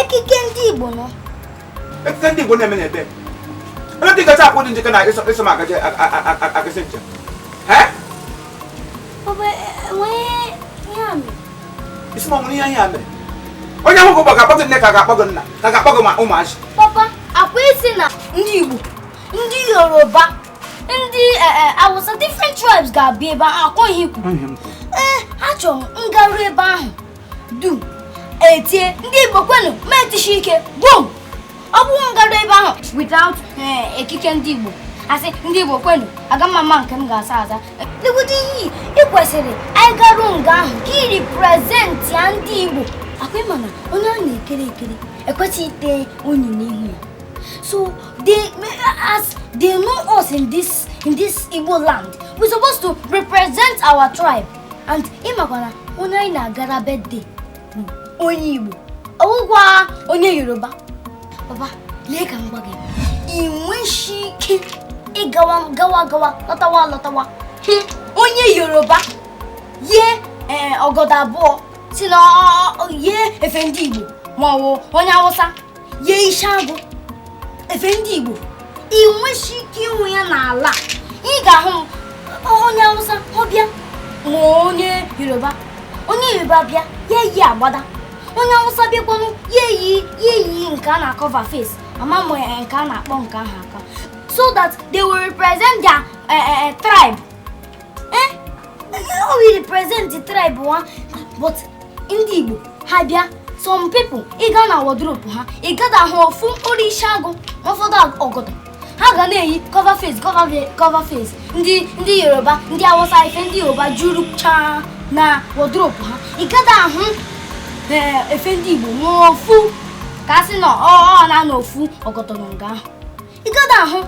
ekike ndị Igbo nọ ekike ndị Igbo na-eme n'ebe ebe dị gacha akwụ dị njikọ na iso m agaje agasị njem isi ma nwere ihe ihe a mere onye ahụ gụgbọ ga-akpọ gị nne ka ga-akpọ gị nna ka ga-akpọ gị ma ụmụazị papa akwa ị sị na ndị Igbo ndị Yoruba ndị awụsa different tribes ga-abịa ebe ahụ akọghị ikwu ee achọrọ m garuo ebe ahụ du etie ndị igbo kwenu m etishie ike bom ọ bụrụ m garuo ebe ahụ without ekike ndị igbo a sị ndị igbo kwenu aga m ama nke m ga-asa aza legodi ihe i yi ị kwesịrị anyị garuo nga ahụ ka ị representia ndị igbo akwa ị ma na onye a na-ekere ekere ekwesịghị ite unyi n'ihu ya so As they know us in this in this Igbo land. We're supposed to represent our tribe. And ị makwa na onye anyị na-agara birthday bụ onye Igbo. Ọ wụkwa onye Yoruba. Papa, lee ka m gwa gị. Ị nweghị ike ịgawa gawa gawa lọtawa lọtawa. Hmm, Onye Yoruba yie ee, ọgọdọ abụọ sị na ọ- ọ- ọ- yie efe ndị Igbo ma ọ bụ onye Awụsa yie isi agụ efe ndị Igbo ị nweghị ike ịhụ ya n'ala ị ga-ahụ onye Hausa ọ bịa ma onye Yoruba onye Yoruba bịa ya eyi agbada onye Hausa bịakwanụ ya eyi ya eyi nke a na-acover face ama m eh, nke a na-akpọ nke ahụ aka so that they will represent their uh, uh, tribe Eh, ọ bụ represent tribe ha but ndị Igbo ha bịa some people ị gaa na wardrobe ha ị gada ahụ ofu mkpụrụ isi agụ ụfọdụ ọgọdọ ha ga na-eyi cover face cover face ndị ndị Yoruba ndị Awụsa efe ndị Yoruba juruchaa na wardrobe ha ị gada ahụ eh, efe ndị Igbo n'ofu ka a sị na ọ naanị ofu ọgọdọ nọ nga ahụ ị gada ahụ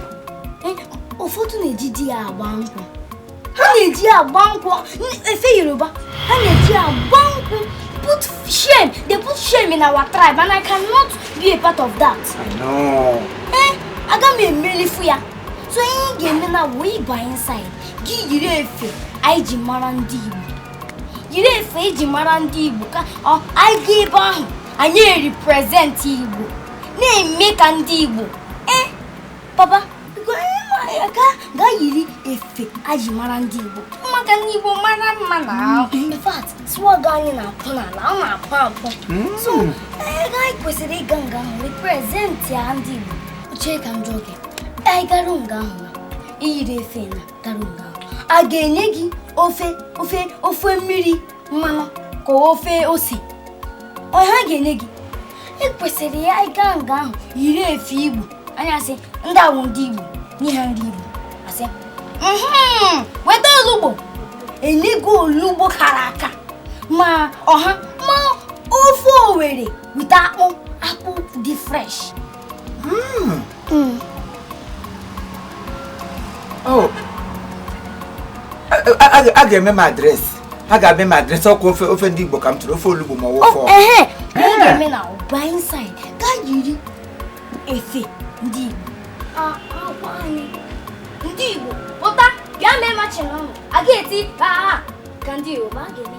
eh, ụfọdụ na-ejidi ya agba nkwụ ha na-eji ya agba nkwụ efe yoruba ha na-eji ya agba nkwụ put shame they put shame in our tribe and i cannot be a part of that I know. eh aga m emelifu ya so ihe ị ga-eme now bụ ịba inside gị yiri efe anyị ji mara ndị igbo yiri efe e ji mara ndị igbo ka anyị gaa ebe ahụ anyị represent igbo na-eme ka ndị igbo ee eh, papa ga yiri efe aji mara ndị igbo maka ndị igbo mara mma n'ahụ mm-hmm. in fact swag anyị na-akpụ n'ala ọ na-akpụ akpụ mm. so eh, ego anyị kwesịrị ịga nga ahụ represent ya ndị igbo chee ka m jụọ gị anyị garụ nga ahụ na iyiri efe na garụ nga ahụ a ga-enye gị ofe ofe ofe mmiri mmanụ ka ofe ose ọ ha ga-enye gị e kwesịrị ya ịga nga ahụ yiri efe igbo anyị asị ndị a wụ ndị igbo nye ha nri igbo a sị "Mhm, weta olugbo e nye gị olugbo kara aka ma ọha ma ofe owere with akpụ akpụ dị fresh Mm. Oh. a ga-eme m address a ga-eme m address ọkwa ofe ofe ndị Igbo ka m tụrụ ofe olugbo ma ọ wụfọ efe ndị Igbo ndị Igbo pụta bịa mee machin ọnụ a ga-eti ha ka ndị Igbo ma a ga-eme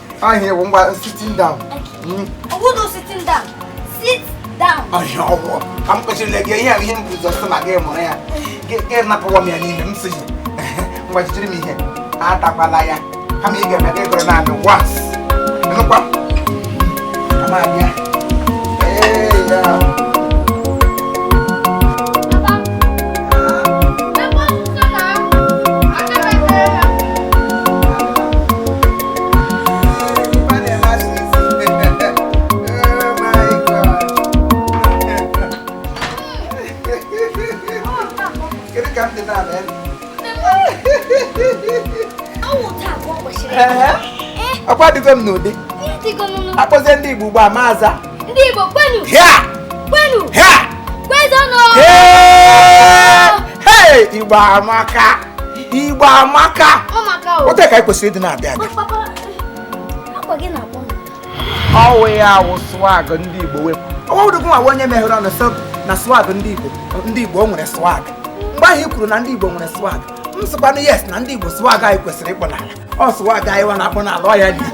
ahịa bụ ngwa sitting down ọwụdụ sitting down sit down ọhịa ọgwụ ka m kpechirila gị ihe ihe m guzo sị na gị mụrụ ya gị napụwa m ya n'ime m sị gị ngwa jijiri m ihe atakwala ya kama ị ga-eme gị gụrụ naanị once nụkwa m abịa ee ya ọkwa adịgo m n'ụdị a kpọzie ndị Igbo ugbu a m aza ndị Igbo kwenu kwenu kwezonụ Igbo amaka igbo amaka otu a ka anyị kwesịrị ịdị na-adị adị ọ wụ ya wụ swag ndị igbo wepụ ọwụdụgụ nwa onye meghere ọnụ sị na swag ndị igbo ndị igbo nwere swag mgbe ahụ i kwuru na ndị igbo nwere swag m sịkwanụ yes na ndị igbo swag anyị kwesịrị ịkpụ n'ala ọ swag anyị wa na-akpụ n'ala ọ ya dị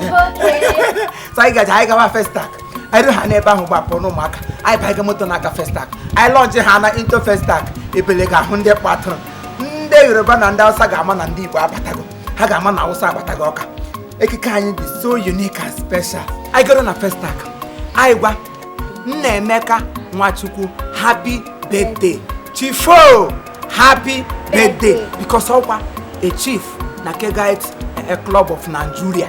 so anyị gaji anyị gawa festac anyị ruo ha n'ebe ahụ gbapụ n'ụmụaka anyị baiga moto na-aga festac anyị lọji ha na into festac ebele ga-ahụ ndị kpatụrụ ndị yoruba na ndị hausa ga-ama na ndị igbo abatago ha ga-ama na hausa abatago ọkwa ekike anyị dị so unique and special anyị goro na festac anyị gwa nnaemeka nwachukwu happy birthday chiefo happy birthday because ọkwa a chief na kegite club of nigeria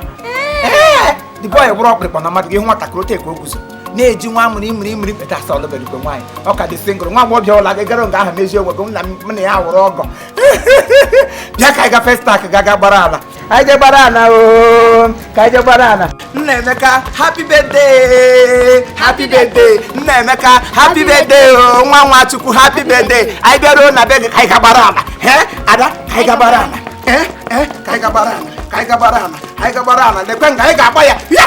the boy wụrụ ọkpụrụkpụ na mmadụ gị hụ nwatakịrị ote ka o guzo na-eji nwa amụrụ imiri imiri peta asa ọ lụbedịkwe nwaanyị ọ ka dị single nwa agbọghọ ọ bụla gị gara nga ahụ mezie onwe gị m na m na ya wụrụ ọgọ bịa ka anyị ga festac ga ga gbara ala anyị je gbara ala oo ka anyị je gbara ala nnaemeka happy birthday happy birthday nnaemeka happy birthday oo nwa nwachukwu happy birthday anyị bịaruo na be gị ka anyị ga gbara ala he ada ka anyị ga gbara ala he he ka anyị ga gbara ala ka anyị ga gbara ala anyị ga gbara ala lekwe nga anyị ga-agba ya ya